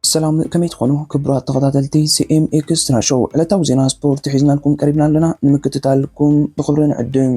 ሰላም ከመይ ትኾኑ ክቡራት ተኸታተልቲ ሲኤም ኤክስትራ ሾው ዕለታዊ ዜና ስፖርት ሒዝናልኩም ቀሪብና ኣለና ንምክትታልኩም ብኽብሪ ንዕድም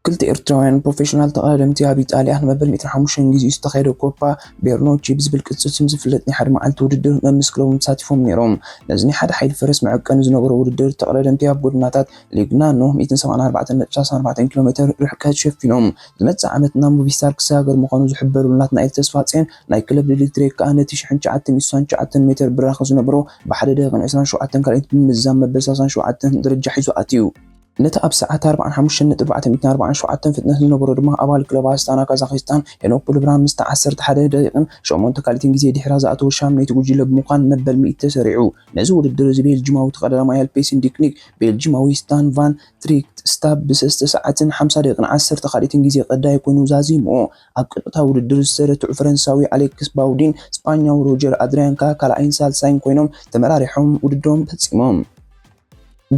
ክልተ ኤርትራውያን ፕሮፌሽናል ተቐዳደምቲ ኣብ ኢጣልያ ንመበል ሚእትን ሓሙሽተን ግዜኡ ዝተኻየደ ኮፓ ቤርኖቺ ብዝብል ቅጽል ስም ዝፍለጥ ናይ ሓደ መዓልቲ ውድድር መምስ ክለቦም ተሳቲፎም ነይሮም። ነዚ ናይ ሓደ ሓይሊ ፈረስ መዐቀኒ ዝነበሮ ውድድር፣ ተቐዳደምቲ ኣብ ጎደናታት ሌግናኖ ሚእትን ሰብዓን ኣርባዕተን ነጥቢ ሰላሳን ኣርባዕተን ኪሎሜተር ርሕቀት ሸፊኖም። ዝመጽእ ዓመት ናብ ሞቪስታር ክሰጋገር ምዃኑ ዝሕበረሉ ናትናኤል ተስፋጼን ናይ ክለብ ሊሊት ትሬክ ከኣ ነቲ ሽሕን ትሽዓተ ሚእትን ስሳን ትሽዓተን ሜተር ብራኸ ዝነበሮ ብሓደ ደቂቕን ዕስራን ሸውዓተን ካልኢት ብምምዛን መበል ሰላሳን ሸውዓተን ደረጃ ሒዙ ኣትዩ። ነቲ ኣብ ሰዓት ኣርባዓን ሓሙሽተን ነጥቢ ኣርባዕተ ሚእትን ኣርባዓን ሸውዓተን ፍጥነት ዝነበሮ ድማ ኣባል ክለብ ኣስታና ካዛኺስታን ሄኖክ ቡልብራን ምስታ ዓሰርተ ሓደ ደቂቕን ሸሞንተ ካልኢትን ግዜ ድሒራ ዝኣተወ ሻምነይቲ ጉጅለ ብምዃን መበል ሚእቲ ተሰሪዑ። ነዚ ውድድር እዚ ቤልጂማዊ ተቐዳዳማይ ኣልፔሲን ዲክኒክ ቤልጂማዊ ስታን ቫን ትሪክት ስታብ ብሰስተ ሰዓትን ሓምሳ ደቂቕን ዓሰርተ ካልኢትን ግዜ ቀዳይ ኮይኑ ዛዚሙ። ኣብ ቀጥታዊ ውድድር ዝተረትዑ ፈረንሳዊ ኣሌክስ ባውዲን ስጳኛዊ ሮጀር ኣድርያን ከኣ ካልኣይን ሳልሳይን ኮይኖም ተመራሪሖም ውድድሮም ፈጺሞም።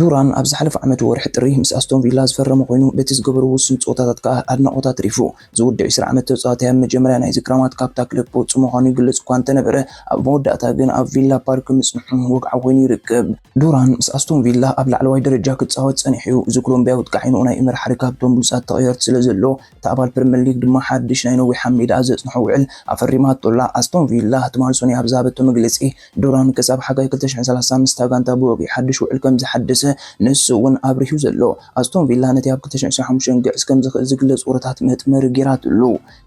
ዱራን ኣብ ዝሓለፈ ዓመት ወርሒ ጥሪ ምስ ኣስቶን ቪላ ዝፈረመ ኮይኑ በቲ ዝገበሮ ውሱን ጸወታታት ከኣ ኣድናቖት ኣትሪፉ። እዚ ወዲ ዕስራ ዓመት ተጻዋታይ ኣብ መጀመርያ ናይዚ ክራማት ካብታ ክለብ ክወጽእ ምዃኑ ይግለጽ እኳ እንተነበረ ኣብ መወዳእታ ግን ኣብ ቪላ ፓርክ ምጽንሑ ወግዓዊ ኮይኑ ይርከብ። ዱራን ምስ ኣስቶን ቪላ ኣብ ላዕለዋይ ደረጃ ክጻወት ጸኒሑ'ዩ። እዚ ኮሎምብያዊ ኣጥቃዒ ንኡናይ ኤመሪ ሓሪካ ኣብቶም ብሉጻት ተቐየርቲ ስለዘሎ እታ ኣባል ፕሪመር ሊግ ድማ ሓድሽ ናይ ነዊሕ ኣብ ሜዳኣ ዘጽንሖ ውዕል ኣፈሪማቶ ኣላ። ኣስቶን ቪላ ትማል ሶኑይ ኣብ ዝሃበቶ መግለጺ፣ ዱራን ክሳብ ሓጋይ ክልተ ሽሕን ሰላሳን ምስታ ጋንታ ብወግዒ ሓድሽ ውዕል ከም ዝሓደሰ ንሱ'ውን ኣብሪሁ ዘሎ። ኣስቶን ቪላ ነቲ ኣብ ክልተ ሽሕን ዕስራን ሓሙሽተን ክግዕዝ ከም ዝኽእል ዝግለጽ ወረታት መጥመሪ ገይራትሉ።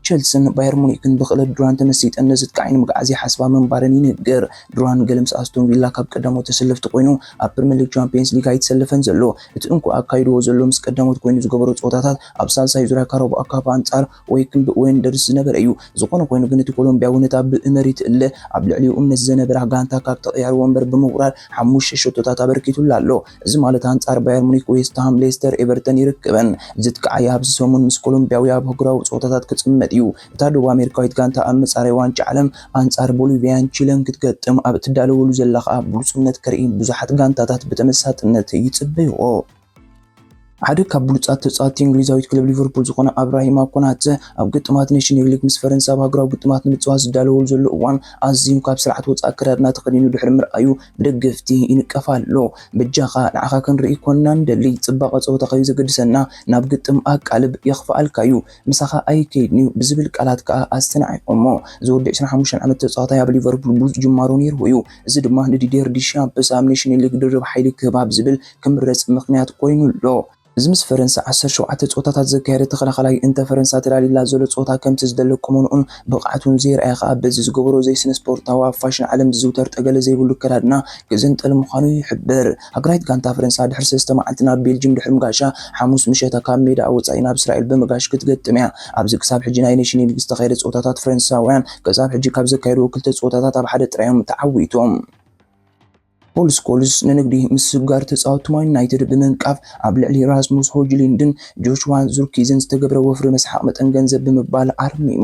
ቸልሲን ባየር ሙኒክን ብኽእለት ዱራን ተመሲጠን ነዚ ጥቃዒ ንምግዓዝ ይሓስባ ምንባረን ይንገር። ዱራን ገለ ምስ ኣስቶን ቪላ ካብ ቀዳሞት ተሰለፍቲ ኮይኑ ኣብ ፕሪመር ሊግ ቻምፕየንስ ሊግ ኣይተሰለፈን ዘሎ። እቲ እንኮ ኣካይድዎ ዘሎ ምስ ቀዳሞት ኮይኑ ዝገበሮ ጸወታታት ኣብ ሳልሳይ ዙርያ ካራቦ ኣካፋ ኣንጻር ወይክንድ ወንደርስ ዝነበረ እዩ። ዝኾነ ኾይኑ ግን እቲ ኮሎምቢያዊ ነታ ብእመሪት እለ ኣብ ልዕሊኡ እምነት ዘነበራ ጋንታ ካብ ተቐያሪ ወንበር ብምውራድ ሓሙሽተ ሸቶታት ኣበርኪቱላ ኣሎ። እዚ ማለት ኣንጻር ባየር ሙኒክ፣ ዌስትሃም፣ ሌስተር፣ ኤቨርተን ይርከበን። እዚ ትካዕያ ኣብዚ ሰሙን ምስ ኮሎምቢያዊ ኣብ ኣህጉራዊ ጸወታታት ክጽመድ እዩ። እታ ደቡብ ኣሜሪካዊት ጋንታ ኣብ መጻረይ ዋንጫ ዓለም ኣንጻር ቦሊቪያን ቺለን ክትገጥም ኣብ እትዳለወሉ ዘላ ከኣ ብሉጽነት ከርኢ ብዙሓት ጋንታታት ብተመሳጥነት ይጽበይኦ። ሓደ ካብ ብሉጻት ተጻወትቲ እንግሊዛዊት ክለብ ሊቨርፑል ዝኾነ ኣብራሂማ ኮናተ ኣብ ግጥማት ኔሽንግ ሊግ ምስ ፈረንሳ ኣብ ሃገራዊ ግጥማት ንምጽዋት ዝዳለወሉ ዘሎ እዋን ኣዝዩ ካብ ስርዓት ወጻኢ ኣከዳድና ተኸዲኑ ድሕሪ ምርኣዩ ብደገፍቲ ይንቀፍ ኣሎ። በጃኻ ንዓኻ ክንርኢ ኮና ንደሊ፣ ጽባቐ ጸወታ ከዩዘገድሰና ናብ ግጥም ኣቃልብ፣ የኽፍኣልካዩ ምሳኻ ኣይከይድንዩ ብዝብል ቃላት ከኣ ኣስተናዒቖሞ። እዚ ወዲ ዕስራን ሓሙሽተን ዓመት ተጻዋታይ ኣብ ሊቨርፑል ብሉጽ ጅማሮ ኔርዎዩ፣ እዚ ድማ ንዲድየር ዲሻምፕስ ኣብ ኔሽንስ ሊግ ድርብ ሓይሊ ክህባ ብዝብል ክምረጽ ምኽንያት ኮይኑ ኣሎ። እዚ ምስ ፈረንሳ ዓሰርተ ሸውዓተ ጸወታታት ዘካየደ ተኸላኻላይ እንተ ፈረንሳ ተላልይላ ዘሎ ጸወታ ከምቲ ዝደለ ቁመንኡን ብቕዓቱን ዘይርኣየ ከኣ በዚ ዝገበሮ ዘይስነስፖርታዊ ኣብ ፋሽን ዓለም ዝዝውተር ጠገለ ዘይብሉ ኣከዳድና ክዝንጥል ምዃኑ ይሕብር። ሃገራዊት ጋንታ ፈረንሳ ድሕሪ ሰለስተ መዓልቲ ናብ ቤልጅም ድሕሪ ምጋሻ ሓሙስ ምሸታ ካብ ሜዳኣ ወጻኢ ናብ እስራኤል ብምጋሽ ክትገጥም'ያ። ኣብዚ ክሳብ ሕጂ ናይ ኔሽን ሊግ ዝተኻየደ ጸወታታት ፈረንሳውያን ክሳብ ሕጂ ካብ ዘካየድዎ ክልተ ጸወታታት ኣብ ሓደ ጥራይ'ዮም ተዓዊቶም። ፖል ስኮልስ ንንግዲ ምስግጋር ተጻወትቲ ማን ዩናይትድ ብምንቃፍ ኣብ ልዕሊ ራስሙስ ሆጅሊንድን ጆሽዋ ዙርኪዝን ዝተገብረ ወፍሪ መስሓቕ መጠን ገንዘብ ብምባል ኣርሚሙ።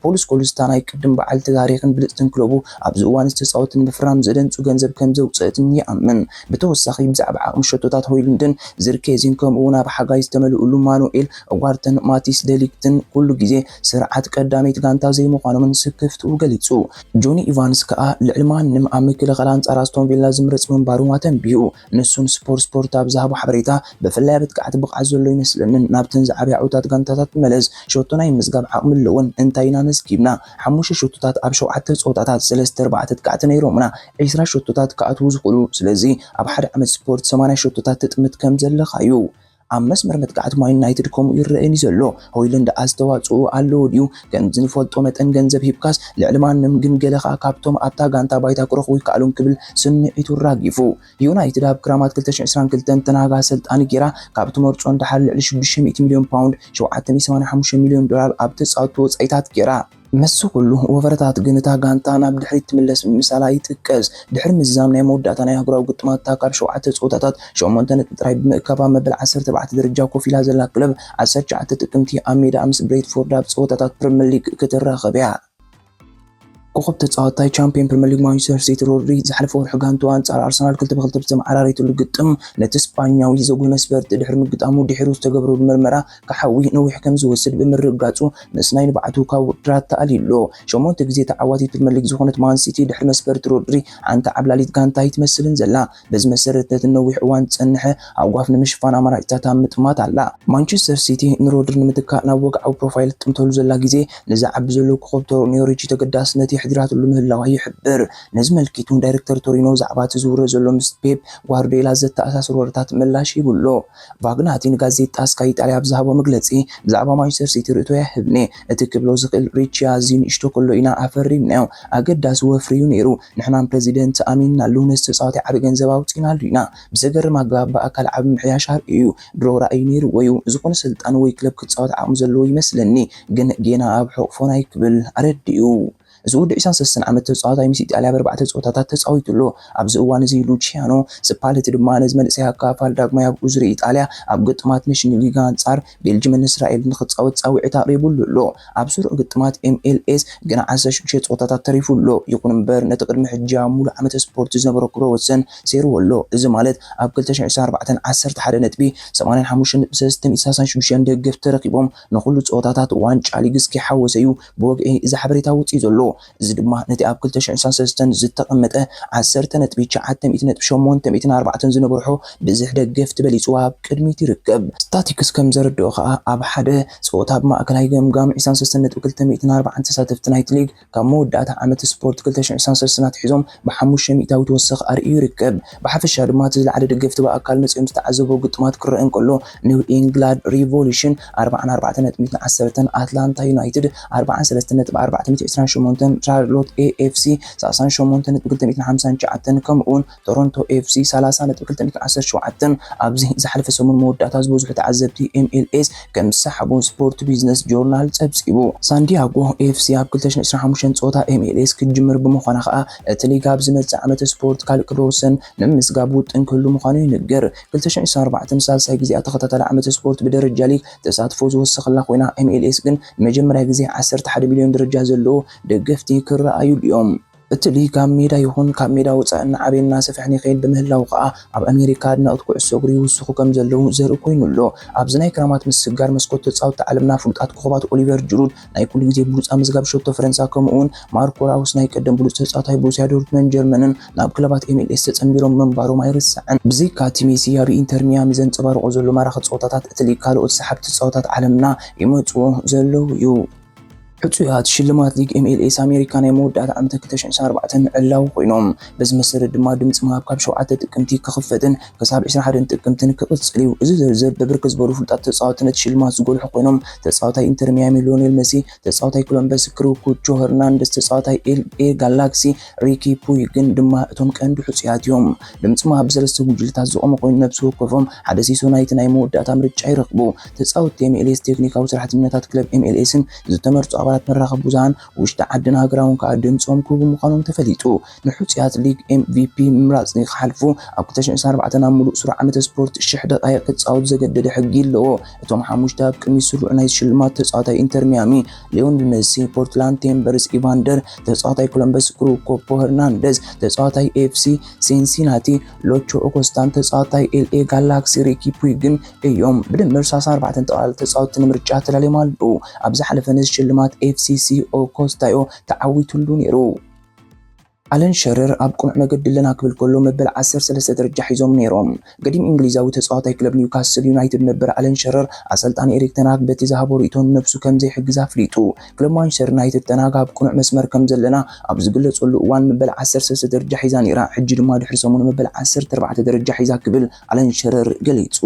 ፖል ስኮልስ እታ ናይ ቅድም በዓልቲ ታሪኽን ብልጽትን ክለቡ ኣብዚ እዋን'ዚ ተጻወትቲ ንምፍራም ዘደንጹ ገንዘብ ከም ዘውጽእት ይኣምን። ብተወሳኺ ብዛዕባ ዓቕሚ ሸቶታት ሆይሉንድን ዙርኬዚን ከምኡ'ውን ኣብ ሓጋይ ዝተመልእሉ ማኑኤል ኡጋርተን ማቲስ ደ ሊግትን ኩሉ ግዜ ስርዓት ቀዳመይቲ ጋንታ ዘይምዃኖምን ስክፍትኡ ገሊጹ። ጆኒ ኢቫንስ ከኣ ልዕሊ ማንም ኣብ ምክልኻል ኣንጻር ኣስቶን ቪላ ዝምረጽ ምንባሩ ኣተንቢሁ። ንሱ ንስፖርት ስፖርት ኣብ ዝሃቦ ሓበሬታ፣ ብፍላይ ኣብ ኣጥቃዕቲ ብቕዓት ዘሎ ኣይመስለንን፣ ናብተን ዝዓበያ ዕውታት ጋንታታት መለስ፣ ሸቶ ናይ ምምዝጋብ ዓቕሚ ኣለወን፣ እንታይ ኢና ኣመዝጊብና? ሓሙሽተ ሸቶታት ኣብ ሸውዓተ ጸወታታት፣ ሰለስተ ኣርባዕተ ኣጥቃዕቲ ነይሮሙና፣ ዕስራ ሸቶታት ክኣትዉ ዝኽእሉ፣ ስለዚ ኣብ ሓደ ዓመት ስፖርት ሰማንያ ሸቶታት ትጥምት ከም ዘለኻ'ዩ። ኣብ መስመር መጥቃዕቲ ማን ዩናይትድ ከምኡ ይረኣየኒ ዘሎ። ሆይሉንድ ኣስተዋጽኦኡ ኣለዎ ድዩ? ከም ዝንፈልጦ መጠን ገንዘብ ሂብካስ ልዕሊ ማንም ግን ገለ ከኣ ካብቶም ኣብታ ጋንታ ባይታ ክረኽቡ ኣይከኣሉን ክብል ስምዒቱ ኣራጊፉ። ዩናይትድ ኣብ ክራማት ክልተ ሽሕ ዕስራን ክልተን ተን ሃግ ኣሰልጣኒ ጌራ ካብ ትመርጾ ንደሓር ልዕሊ ሽዱሽተ ሚእቲ ሚልዮን ፓውንድ፣ ሸውዓተ ሚእቲ ሰማንያ ሓሙሽተ ሚልዮን ዶላር፣ ኣብ ተጻወትቲ ወጻኢታት ጌራ። ምስዚ ኩሉ ወፈረታት ግን እታ ጋንታ ናብ ድሕሪት ትምለስ ምምሳላ ይጥቀስ። ድሕሪ ምዝዛም ናይ መወዳእታ ናይ ኣህጉራዊ ግጥማት'ታ ካብ ሸውዓተ ጸወታታት ሸሞንተ ነጥቢ ጥራይ ብምእካብ ኣብ መበል ዓሰርተ ኣርባዕተ ደረጃ ኮፍ ኢላ ዘላ ክለብ፣ ዓሰርተ ትሽዓተ ጥቅምቲ ኣብ ሜዳኣ ምስ ብሬትፎርድ ኣብ ጸወታታት ፕሪመር ሊግ ክትራኸብ'ያ። ኮኾብ ተጻዋታይ ቻምፕዮን ፕሪመር ሊግ ማንቸስተር ሲቲ ሮድሪ፣ ዝሓለፈ ወርሒ ጋንትኡ ኣንጻር ኣርሰናል ክልተ ብክልተ ብተመዓራረየትሉ ግጥም ነቲ ስጳኛዊ ዘጉህይ መስበርቲ ድሕሪ ምግጣሙ ድሒሩ ዝተገብረሉ መርመራ ክሓዊ ነዊሕ ከም ዝወስድ ብምርግጋጹ ምስ ናይ ንብዓቱ ካብ ውድድራት ተኣልዩ'ሎ። ሸሞንተ ግዜ ተዓዋቲት ፕሪመር ሊግ ዝኾነት ማን ሲቲ ድሕሪ መስፈርቲ ሮድሪ ሓንቲ ዓብላሊት ጋንታ ኣይትመስልን ዘላ። በዚ መሰረት ነቲ ንነዊሕ እዋን ዝጸንሐ ሃጓፍ ንምሽፋን ኣማራጺታት ኣብ ምጥማት ኣላ። ማንቸስተር ሲቲ ንሮድሪ ንምትካእ ናብ ወግዓዊ ፕሮፋይል ትጥምተሉ ዘላ ግዜ ነዚ ዓቢ ዘሎ ኮኾብ ቶሮኒ ኦሪጂ ተገዳስነት የሕዲራትሉ ምህላዋ ይሕብር። ነዚ መልኪቱ ዳይረክተር ቶሪኖ ብዛዕባ'ቲ ዝውረ ዘሎ ምስ ፔፕ ጓርድዮላ ዘተኣሳስር ወረታት ምላሽ ሂቡ'ሎ። ቫግናቲ ንጋዜጣ ስካይ ኢጣልያ ኣብ ዝሃቦ መግለጺ፣ ብዛዕባ ማንቸስተር ሲቲ ርእይቶይ ኣይህብን'የ። እቲ ክብሎ ዝኽእል ሪቺ ኣዝዩ ንእሽቶ ከሎ ኢና ኣፈሪምናዮ። ኣገዳሲ ወፍሪ'ዩ ነይሩ። ንሕናን ፕረዚደንት ኣሚንናሉ። ነቲ ተጻዋታይ ዓቢ ገንዘብ ኣውጺእናሉ ኢና። ብዘገርም ኣገባብ ብኣካል ዓቢ ምምሕያሽ ኣርእዩ'ዩ። ድሮ ራእይ ነይሩዎ'ዩ። ዝኾነ ኣሰልጣኒ ወይ ክለብ ክጻወት ዓቕሚ ዘለዎ ይመስለኒ። ግን ጌና ኣብ ሕቝፎን ኣይክብል ኣረዲኡ። እዚ ወዲ ዕስራን ሰለስተን ዓመት ተጻዋታይ ምስ ኢጣልያ ኣብ ኣርባዕተ ጸወታታት ተጻዊቱ ኣሎ። ኣብዚ እዋን እዚ ሉቺያኖ ስፓለቲ ድማ ነዚ መንእሰይ ኣካፋፋሊ ዳግማይ ኣብ እዙሪ ኢጣልያ ኣብ ግጥማት ነሽን ሊግ ኣንጻር ቤልጅምን እስራኤልን ንኽጻወት ጻዊዒት ኣቕሪቡሉ ኣሎ። ኣብ ስሩዕ ግጥማት MLS ግና ዓሰርተ ሽዱሽተ ጸወታታት ተሪፉ ኣሎ። ይኹን እምበር ነቲ ቅድሚ ሕጂ ኣብ ምሉእ ዓመተ ስፖርት ዝነበሮ ክብረ ወሰን ሰይርዎ ኣሎ። እዚ ማለት ኣብ ክልተ ሽሕን ዕስራን ኣርባዕተን ዓሰርተ ሓደ ነጥቢ፣ ሰማንያን ሓሙሽተን ነጥቢ ሰለስተን፣ ኢድ ሰላሳን ሽዱሽተን ደገፍቲ ረኺቦም ንኹሉ ጸወታታት ዋንጫ ሊግ እስከይሓወሰ'ዩ ብወግዒ እዚ ሓበሬታ ወጺኡ ዘሎ። እዚ ድማ ነቲ ኣብ ክልተ ሽሕን ሰለስተን ዝተቐመጠ ዓሰርተ ነጥቢ ትሽዓተ ሚእቲ ነጥቢ ሸሞንተ ሚእትን ኣርባዕተን ዝነበርሖ ብዝሒ ደገፍቲ በሊጹ ኣብ ቅድሚት ይርከብ። ስታቲክስ ከም ዘረድኦ ከኣ ኣብ ሓደ ጸወታ ኣብ ማእከላይ ገምጋም ዕስራን ሰለስተን ነጥቢ ክልተ ሚእትን ኣርባዓን ተሳተፍቲ ናይቲ ሊግ ካብ መወዳእታ ዓመት ስፖርት ክልተ ሽሕን ዕስራን ሰለስተን ኣትሒዞም ብሓሙሽተ ሚእታዊት ወሰኽ ኣርእዩ ይርከብ። ብሓፈሻ ድማ እቲ ዝለዓለ ደገፍቲ ብኣካል መጺኦም ዝተዓዘብዎ ግጥማት ክረኣ እንከሎ፣ ኒው ኢንግላድ ሪቮሉሽን ኣርብዓን ኣርባዕተ ነጥቢትን ዓሰርተን፣ ኣትላንታ ዩናይትድ ኣርብዓን ሰለስተ ነጥቢ ኣርባዕተ ሚእቲ ዕስራን ሸሞንተን፣ ቻርሎት ኤፍሲ ሰላሳን ሸሞንተ ነጥቢ ክልተ ሚእትን ሓምሳን ትሽዓተን፣ ከምኡ'ውን ቶሮንቶ ኤፍሲ ሰላሳ ነጥቢ ክልተ ሚእትን ዓሰርተ ሸውዓተን ኣብዚ ዝሓለፈ ሰሙን መወዳእታ ዝበዝሑ ተዓዘብቲ ኤምኤልኤስ ከም ዝሰሓቡን ስፖርት ቢዝነስ ጆርናል ጸብጺቡ። ሳንዲያጎ ኤፍሲ ኣብ ክልተ ሽሕን ዕስራን ሓሙሽተን ጸወታ MLS ክትጅምር ብምዃና ከኣ እቲ ሊግ ኣብ ዝመጽእ ዓመተ ስፖርት ካልእ ክብረ ወሰን ንምምዝጋብ ውጥን ክህሉ ምዃኑ ይንገር። ክልተ ሽሕን ዕስራን ኣርባዕተን ንሳልሳይ ግዜኣ ተኸታታሊ ዓመተ ስፖርት ብደረጃ ሊግ ተሳትፎ ዝወሰኸላ ኮይና MLS ግን ንመጀመርያ ግዜ ዓሰርተ ሓደ ሚልዮን ደረጃ ዘለዎ ደገፍቲ ክረኣዩሉ'ዮም። እቲ ሊግ ኣብ ሜዳ ይኹን ካብ ሜዳ ወጻኢ እናዓበየን እናሰፍሐን ይኸይድ ብምህላዉ ከኣ ኣብ ኣሜሪካ ኣድነቕቲ ኩዕሶ እግሪ ይውስኹ ከም ዘለዉ ዘርኢ ኮይኑ ኣሎ። ኣብዚ ናይ ክራማት ምስግጋር መስኮት ተጻወትቲ ዓለምና ፍሉጣት ኮኾባት ኦሊቨር ጅሩድ ናይ ኩሉ ግዜ ብሉጽ ኣመዝጋቢ ሸቶ ፈረንሳ ከምኡ'ውን ማርኮ ራውስ ናይ ቀደም ብሉጽ ተጻዋታይ ቦሩስያ ዶርትመን ጀርመንን ናብ ክለባት ኤምኤልኤስ ተጸንቢሮም ምንባሮም ኣይርሳዕን። ብዘይካ'ቲ ሜሲ ኣብ ኢንተር ሚያሚ ዘንጸባርቖ ዘሎ ማራኺ ጸወታታት እቲ ሊግ ካልኦት ሰሓብቲ ተጻወታት ዓለምና ይመጽዎ ዘለዉ'ዩ። ሕጹያት ሽልማት ሊግ ኤምኤልኤስ ኣሜሪካ ናይ መወዳእታ ዓመተ ክልተ ሽሕን ዓሰርተ ኣርባዕተን ምዕላዊ ኮይኖም። በዚ መሰረት ድማ ድምጺ ምሃብ ካብ ሸውዓተ ጥቅምቲ ክኽፈትን ክሳብ ዕስራን ሓደን ጥቅምትን ክቕጽል እዩ። እዚ ዝርዝር ብብርክት ዝበሉ ፍሉጣት ተጻወቲ ነቲ ሽልማት ዝጎልሑ ኮይኖም፣ ተጻዋታይ ኢንተር ሚያሚ ሊዮኔል መሲ፣ ተጻዋታይ ኮሎምበስ ክሩኩቾ ሄርናንደዝ፣ ተጻዋታይ ኤልኤ ጋላክሲ ሪኪ ፑይግን ድማ እቶም ቀንዲ ሕጹያት እዮም። ድምጺ ምሃብ ብሰለስተ ጉጅለታት ዝቖመ ኮይኑ፣ ነብሲ ወከፎም ሓደ ሲሶ ናይቲ ናይ መወዳእታ ምርጫ ይረኽቡ። ተጻወትቲ ኤምኤልኤስ፣ ቴክኒካዊ ሰራሕተኛታት ክለብ ኤምኤልኤስን ዝተመርጹ ኣባላት መራኸቢ ብዙሃን ውሽጢ ዓድን ሃገራውን ከኣ ድምጾም ክህቡ ምዃኖም ተፈሊጡ። ንሕጹያት ሊግ MVP ምምራጽ ንክሓልፉ ኣብ ክልተ ሽሕን ዕስራን ኣርባዕተን ኣብ ምሉእ ስሩዕ ዓመተ ስፖርት ሽሕ ደቓይቕ ክጻወቱ ዘገደደ ሕጊ ኣለዎ። እቶም ሓሙሽተ ኣብ ቅድሚት ስሩዕ ናይዚ ሽልማት ተጻዋታይ ኢንተር ሚያሚ ሊዮንል መሲ፣ ፖርትላንድ ቴምበርስ ኢቫንደር፣ ተጻዋታይ ኮሎምበስ ክሩግ ኮፖ ሄርናንደዝ፣ ተጻዋታይ ኤፍሲ ሲንሲናቲ ሎቾ ኦኮስታን ተጻዋታይ ኤልኤ ጋላክሲ ሪኪ ፑይግን እዮም። ብድምር ሳሳ ኣርባዕተ ጠቕላላ ተጻወትቲ ንምርጫ ተዳልዮም ኣለዉ። ኣብ ዝሓለፈ ነዚ ሽልማት ኤፍሲሲኦ ኮስታዮ ተዓዊትሉ ነይሩ። ኣለን ሸረር ኣብ ቅኑዕ መገዲ ኣለና ክብል ከሎ መበል ዓሰርተ ሰለስተ ደረጃ ሒዞም ነይሮም። ገዲም እንግሊዛዊ ተጻዋታይ ክለብ ኒውካስል ዩናይትድ ነበር ኣለን ሸረር፣ ኣሰልጣኒ ኤሪክ ተን ሃግ በቲ ዝሃቦ ርእይቶ ንነብሱ ከም ዘይሕግዝ ኣፍሊጡ። ክለብ ማንቸስተር ዩናይትድ ተን ሃግ ኣብ ቅኑዕ መስመር ከም ዘለና ኣብ ዝግለጸሉ እዋን መበል ዓሰርተ ሰለስተ ደረጃ ሒዛ ነይራ፣ ሕጂ ድማ ድሕሪ ሰሙን መበል ዓሰርተ ኣርባዕተ ደረጃ ሒዛ ክብል ኣለን ሽረር ገሊጹ።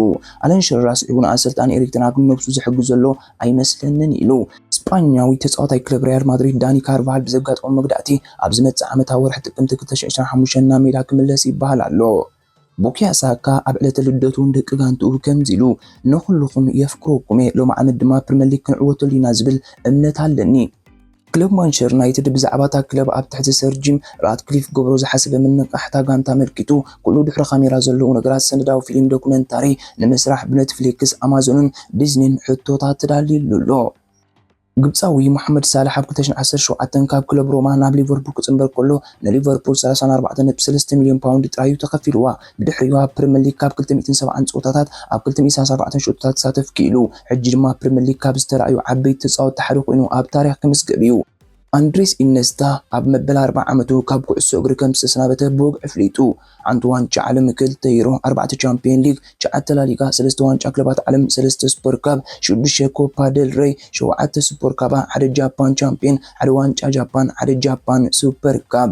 ኣለን ሽረር ኣስዒቡ ንኣሰልጣኒ ኤሪክተን ኣብ ነብሱ ዝሕግዝ ዘሎ ኣይመስለንን ኢሉ። ስጳኛዊ ተጻዋታይ ክለብ ሪያል ማድሪድ ዳኒ ካርቫሃል ብዘጋጠሞ መግዳእቲ ኣብ ዝመጽእ ዓመት ኣብ ወርሒ ጥቅምቲ ክልተ ሽሕን ዕስራን ሓሙሽተን ናብ ሜዳ ክምለስ ይበሃል ኣሎ። ቡካዮ ሳካ ኣብ ዕለተ ልደቱ ንደቂ ጋንትኡ ከምዚ ኢሉ፣ ንኹሉኹም የፍቅረኩም'የ፣ ሎሚ ዓመት ድማ ፕሪመር ሊግ ክንዕወተሉ ኢና ዝብል እምነት ኣለኒ። ክለብ ማንቸር ዩናይትድ ብዛዕባ እታ ክለብ ኣብ ትሕቲ ሰር ጂም ራትክሊፍ ክገብሮ ዝሓሰበ ምንቕቓሕ እታ ጋንታ ኣመልኪቱ ኩሉ ድሕሪ ካሜራ ዘለዉ ነገራት ሰነዳዊ ፊሊም ዶክመንታሪ ንምስራሕ ብነትፍሊክስ፣ ኣማዞንን ዲዝኒን ሕቶታት ተዳልዩሉ ኣሎ። ግብጻዊ ሞሓመድ ሳላሕ ኣብ ክልተ ሽሕን ዓሰርተ ሸውዓተን ካብ ክለብ ሮማ ናብ ሊቨርፑል ክጽንበር ከሎ ንሊቨርፑል ሰላሳን ኣርባዕተን ነጥቢ ሰለስተ ሚልዮን ፓውንድ ጥራይ'ዩ ተኸፊልዋ። ብድሕሪኡ ኣብ ፕሪመር ሊግ ካብ ክልተ ሚእትን ሰብዓን ጸወታታት ኣብ ክልተ ሚእትን ሰላሳን ኣርባዕተን ሸቶታት ክሳተፍ ክኢሉ። ሕጂ ድማ ኣብ ፕሪመር ሊግ ካብ ዝተራእዩ ዓበይቲ ተጻወትቲ ሓደ ኮይኑ ኣብ ታሪኽ ክምዝገብ'ዩ። ኣንድሬስ ኢነስታ ኣብ መበል ኣርብዓ ዓመቱ ካብ ኩዕሶ እግሪ ከም ዝተሰናበተ ብወግዒ ኣፍሊጡ። ሓንቲ ዋንጫ ዓለም፣ ክልተ ዩሮ፣ ኣርባዕተ ቻምፕዮን ሊግ፣ ትሽዓተ ላሊጋ፣ ሰለስተ ዋንጫ ክለባት ዓለም፣ ሰለስተ ሱፐር ካፕ፣ ሽዱሽተ ኮፓ ደል ረይ፣ ሸውዓተ ሱፐር ካባ፣ ሓደ ጃፓን ቻምፕዮን፣ ሓደ ዋንጫ ጃፓን፣ ሓደ ጃፓን ሱፐር ካፕ።